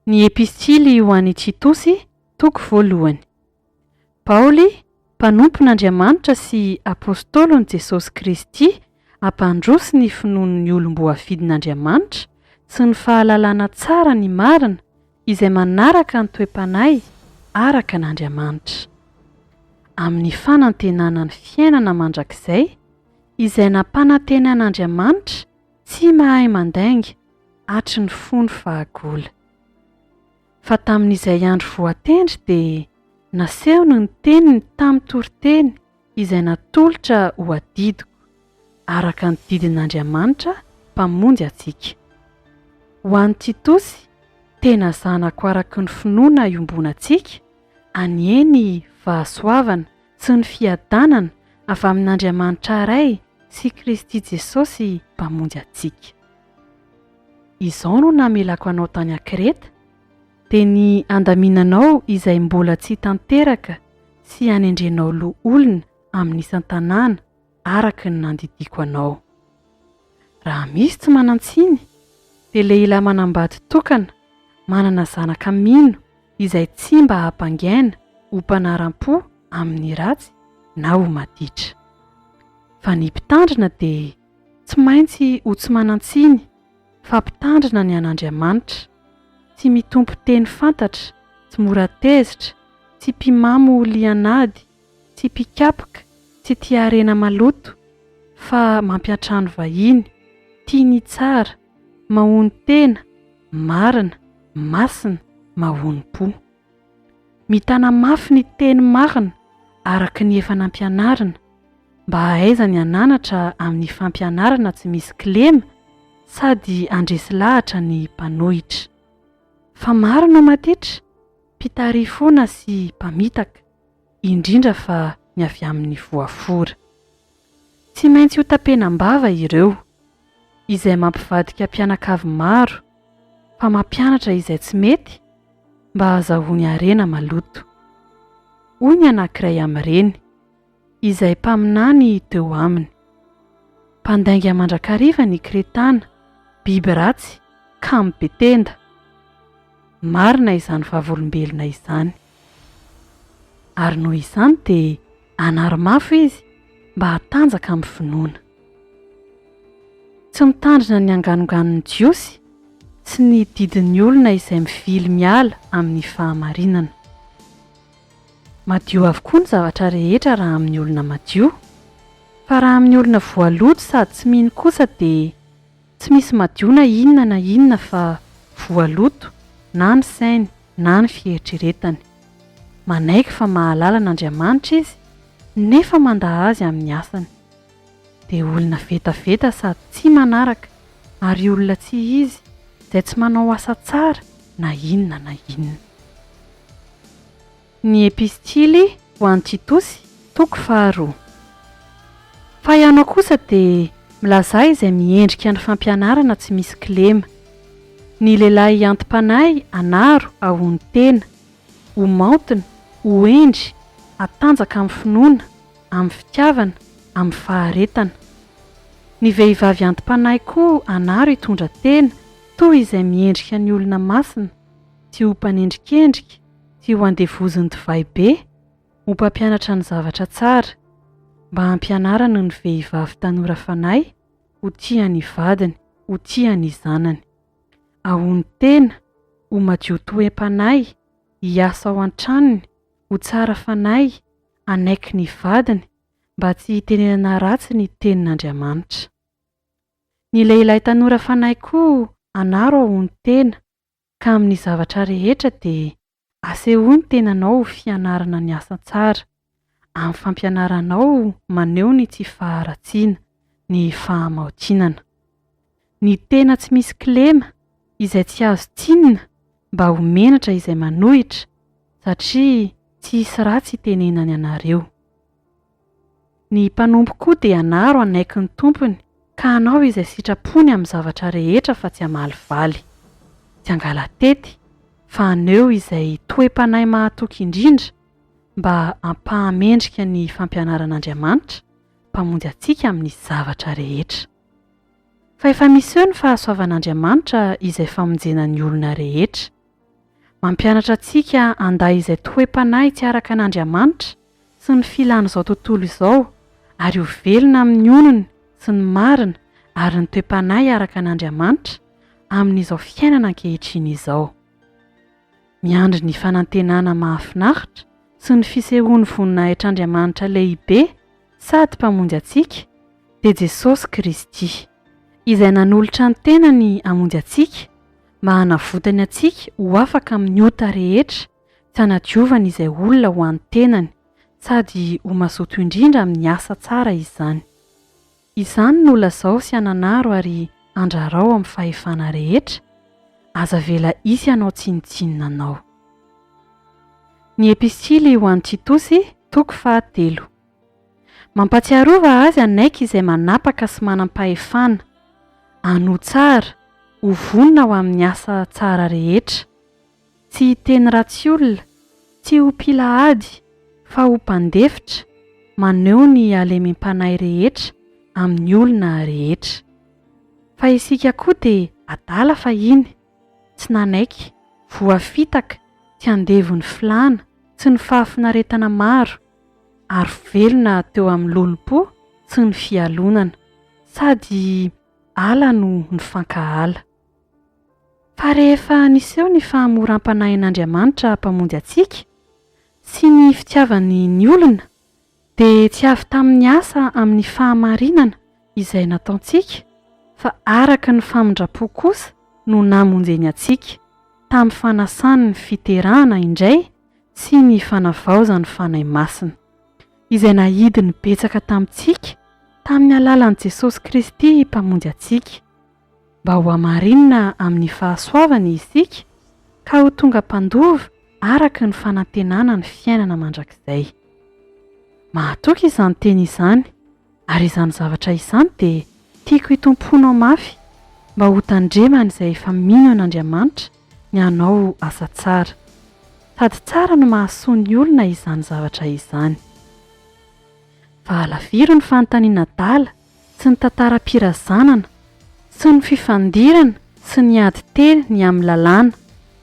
Ny Epistily ho an'i Titosy, toko voalohany. Paoly, mpanompon'Andriamanitra sy apostolon'i Jesosy Kristy, hampandroso ny finoan'ny olom-boafidin'Andriamanitra sy ny fahalalana tsara ny marina, Izay manaraka ny toe-panahy araka an' Andriamanitra. Amin' ny fanantenana ny fiainana mandrakizay izay nampanantenan' Andriamanitra tsy mahay mandainga hatry ny fony fahagola. Fa tamin' izay andro voatendry dia nasehony ny teniny tamin-toriteny izay natolotra ho adidiko, araka ny didin'Andriamanitra Mpamonjy antsika. Ho an'i Titosy, tena zanako araka ny finoana iombonantsika, anie ny fahasoavana sy ny fiadanana avy amin'Andriamanitra Ray sy Kristy Jesosy Mpamonjy antsika. Izao no namelako anao tany an-Kreta, dia ny handaminanao izay mbola tsy tanteraka sy hanendrenao loholona amin'ny isan-tanàna araka ny nandidiako anao. Raha misy tsy manan-tsiny, dia lehilahy manambady tokana, manana zanaka mino izay tsy mba hampangaina ho mpanaram-po amin'ny ratsy na ho maditra. Fa ny mpitandrina dia Tsy maintsy ho tsy manan-tsiny fa mpitandrina ny an'Andriamanitra, tsy mitompo teny fantatra, tsy mora tezitra, tsy mpimamo lian'ady, tsy mpikapoka, tsy tia harena maloto, fa mampiantrano vahiny, tia ny tsara, mahonon-tena, marina, masina, mahonom-po. Mitana mafy ny teny marina araka ny efa nampianarina, mba hahaiza ny hananatra amin'ny fampianarana tsy misy kilema sady handresy lahatra ny mpanohitra. Fa maro no matitra, mpitarifona sy mpamitaka. indrindra fa ny avy amin'ny voafora. Tsy maintsy hotapenam-bava ireo, izay mampivadika mpianakavy maro fa mampianatra izay tsy mety mba hahazahoany harena maloto. Hoy ny anankiray amin'ireny, izay mpaminany teo aminy, Mpandainga mandrakariva ny Kretana, biby ratsy, kamo be tenda. Marina izany vavolombelona izany. Ary noho izany dia hanari-mafy izy mba hatanjaka amin'ny finoana. Tsy mitandrina ny anganonganon'ny Jiosy sy ny didin'ny olona izay mivily miala amin'ny fahamarinana. Madio avokoa ny zavatra rehetra raha amin'ny olona madio, fa raha amin'ny olona voaloto sady tsy mino kosa dia. Tsy misy madio na inona na inona fa voaloto na ny sainy na ny fieritreretany. Manaiky fa mahalala an'Andriamanitra izy nefa mandà azy amin'ny asany. Dia olona vetaveta sady tsy manaraka ary olona tsy izy izay tsy manao asa tsara na inona na inona. Ny Epistily ho an'i Titosy, toko faharoa. Fa ianao kosa dia milazà izay miendrika ny fampianarana tsy misy kilema. Ny lehilahy anti-panahy anaro ahono tena, ho maontina, ho hendry, hatanjaka amin'ny finoana, amin'ny fitiavana, amin'ny faharetana. Ny vehivavy anti-panahy koa anaro hitondra tena toa izay miendrika ny olona masina, tsy ho mpanendrikendrika, Tsy ho andevozin'ny divay be ho mpampianatra ny zavatra tsara, mba hampianarany ny vehivavy tanora fanahy ho tia ny vadiny, ho tia ny zanany. Ahono tena ho madio toem-panahy, hiasa ao an-tranony, ho tsara fanahy, hanaiky ny vadiny, mba tsy hitenenana ratsy ny Tenin'Andriamanitra. Ny lehilahy tanora fanahy koa anaro ahono tena Ka amin'ny zavatra rehetra dia asehoy ny tenanao ho fianarana ny asa tsara, amin'ny fampianaranao maneho ny tsy faharatsiana, ny fahamaotinana. Ny tena tsy misy kilema, izay tsy azo tsinina mba ho menatra izay manohitra, satria tsy hisy ratsy hitenenany anareo. Ny mpanompo koa dia hanaro hanaiky ny tompony ka hanao izay sitrapony amin'ny zavatra rehetra fa tsy hamalivaly. Tsy hangala-tety, fa haneho izay toe-panahy mahatoky indrindra mba hampahamendrika ny fampianaran'Andriamanitra, Mpamonjy antsika amin'ny zavatra rehetra. Fa efa miseho ny fahasoavan'Andriamanitra izay famonjena ny olona rehetra. Mampianatra antsika handay izay toe-panahy tsy araka an'Andriamanitra sy ny filan'izao tontolo izao ary ho velona amin'ny onony sy ny marina ary ny toe-panahy araka an'Andriamanitra amin'izao fiainana ankehitriny izao. Miandry ny fanantenana mahafinaritra sy ny fisehoan'ny voninahitr'Andriamanitra lehibe sady Mpamonjy antsika, dia Jesosy Kristy, izay nanolotra ny tenany hamonjy antsika mba hanavotany antsika ho afaka amin'ny ota rehetra tsy hanadiovany izay olona ho an'ny tenany, sady ho mazoto indrindra amin'ny asa tsara izany. Izany no lazao sy ananaro ary andrarao amin'ny fahefana rehetra, aza avela hisy hanao tsinontsinona anao. Ny Epistily ho an'i Titosy, toko fahatelo. Mampatsiarova azy hanaiky izay manapaka sy manam-pahefana, hanoa tsara, ho vonona ho amin'ny asa tsara rehetra. Tsy hiteny ratsy olona, tsy ho mpila ady, fa ho mpandefitra, maneho ny halemem-panahy rehetra amin'ny olona rehetra. Fa isika koa dia adala fahiny, tsy nanaiky, voafitaka, tsy andevo ny filàna sy ny fahafinaretana maro, ary velona teo amin'ny lolompo tsy ny fialonana, sady ala no nifankahala. Fa rehefa niseho ny fahamoram-panahin'Andriamanitra Mpamonjy antsika, sy ny fitiavany ny olona, dia tsy avy tamin'ny asa amin'ny fahamarinana izay nataontsika, fa araka ny famindram-po kosa no namonjeny antsika, tamin'ny fanasan'ny fiterahana indray, tsy ny fanavaozan'ny Fanahy Masina, izay nahidiny betsaka tamintsika tamin'ny alalan'i Jesosy Kristy Mpamonjy antsika, mba ho hamarinina amin'ny fahasoavany isika ka ho tonga mpandova araka ny fanantenana ny fiainana mandrakizay. Mahatoky izany teny izany Ary izany zavatra izany dia tiako hitompoanao mafy mba ho tandreman'izay efa mino an'Andriamanitra ny hanao asa tsara. Sady tsara no mahasoa ny olona izany zavatra izany. Fa alaviro ny fanontaniana adala sy ny tantaram-pirazanana sy ny fifandirana sy ny ady teny ny amin'ny lalàna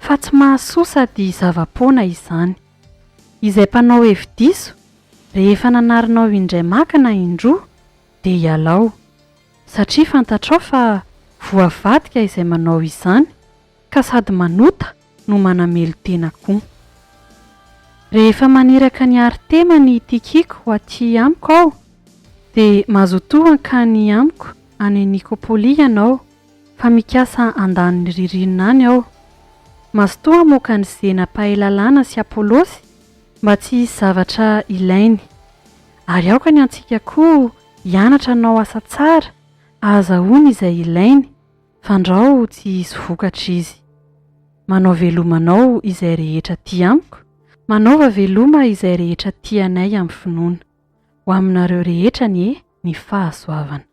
fa tsy mahasoa sady zava-poana izany. Izay mpanao hevi-diso, rehefa nanarinao indray maka na indroa, dia ialao, satria fantatrao fa voavadika izay manao izany, ka sady manota no manamelo-tena koa. Rehefa maniraka an'i Artema n'i Tikiqo ho aty amiko aho, dia mazotoa hankany amiko any Nikôpôly ianao, Fa mikasa andaniny ririnina any aho. Mazotoa hamoaka an'i Zena mpahay lalàna sy Apolosy mba tsy hisy zavatra ilainy. Ary aoka ny antsika koa hianatra hanao asa tsara ahazahoany izay ilainy fandrao tsy hisy vokatra izy. Manao veloma anao izay rehetra tia amiko, manaova veloma izay rehetra tia anay amin'ny finoana. Ho aminareo rehetra anie ny fahasoavana.